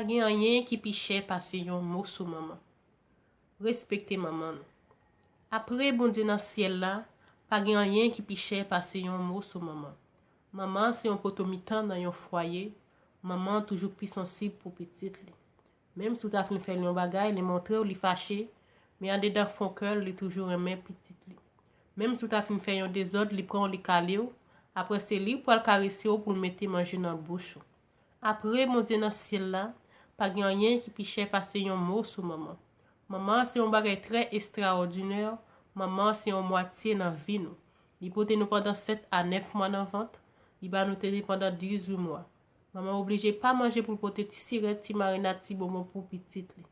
Pa gen anyen ki pi chè pase yon moso manman. Respekte manman nou. Apre Bondye nan syèl la, pa gen anyen ki pi chè pase yon moso manman. Manman se yon poto mitan nan yon fwaye, manman toujou pi sansib pou pitit li. Menm si w ta fin fè l yon bagay, li montre w li fache, men andedan fon kè l, li toujou renmen pitit li. Menm si w ta fin fè yon dezòd, li pran w li kale w, apre se li pral karese w pou l mete manje nan bouch ou. Apre Bondye nan syèl la, pa gen anyen ki pi chè pase yon mo sou manman. Manman se yon bagay trè estrawòdinè, manman se yon mwatye nan vi nou. Li pote nou pandan 7 a 9 mwa nan vant, li ba nou tete pandan 18 mwa. Manman oblije pa manje pou l pote ti sirèt, ti marinad, ti bonbon pou pitit li.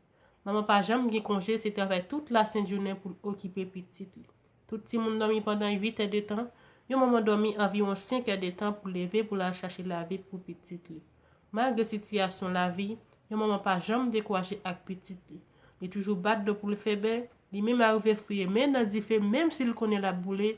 Manman pa janm gen konje, se travay tout lasent jounen pou l okipe pitit li. Tout timoun dòmi pandan 8 è de tan, yon manman dòmi anviwon 5 è de tan pou leve pou l al chache lavi pou pitit li. Malgre sitiyasyon lavi, yon manman pa janm dekouraje ak pitit li. Li toujou bat dlo pou l fè bè, li menm arive fouye men l nan dife menm si l konnen l ap boule,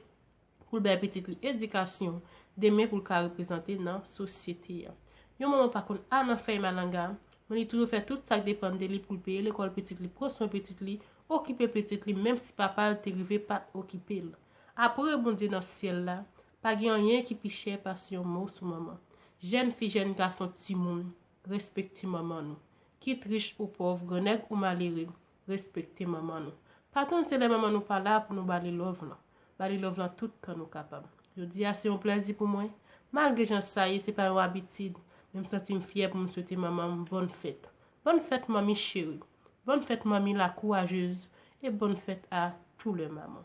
pou l bay pitit li edikasyon demen pou l ka reprezante nan sosyete a. Yon manman pa konn a nan fèy malanga, men li toujou fè tout sa k depann de li pou l peye lekòl pitit li, pran swen pitit li, okipe pitit li menm si papa l te rive pa t okipe l. Apre Bondye nan syèl la, pa gen anyen ki pi chè pase yon mo sou manman. Jèn fi, jèn gason, timoun, respekte manman nou. Kit rich ou pòv, grannèg ou malere, Respekte manman nou. Pa tann se lè manman nou pa la pou nou ba li love lan. Ba li love lan tout tan nou kapab. Jodi a se yon plèzi pou mwen. Malgre jan sa ye, se pa yon abitid, men m santi m fyè pou m swete manman m bòn fèt. Bòn fèt manmi cheri. Bòn fèt manmi la kourajez. E bòn fèt a tou lè manman.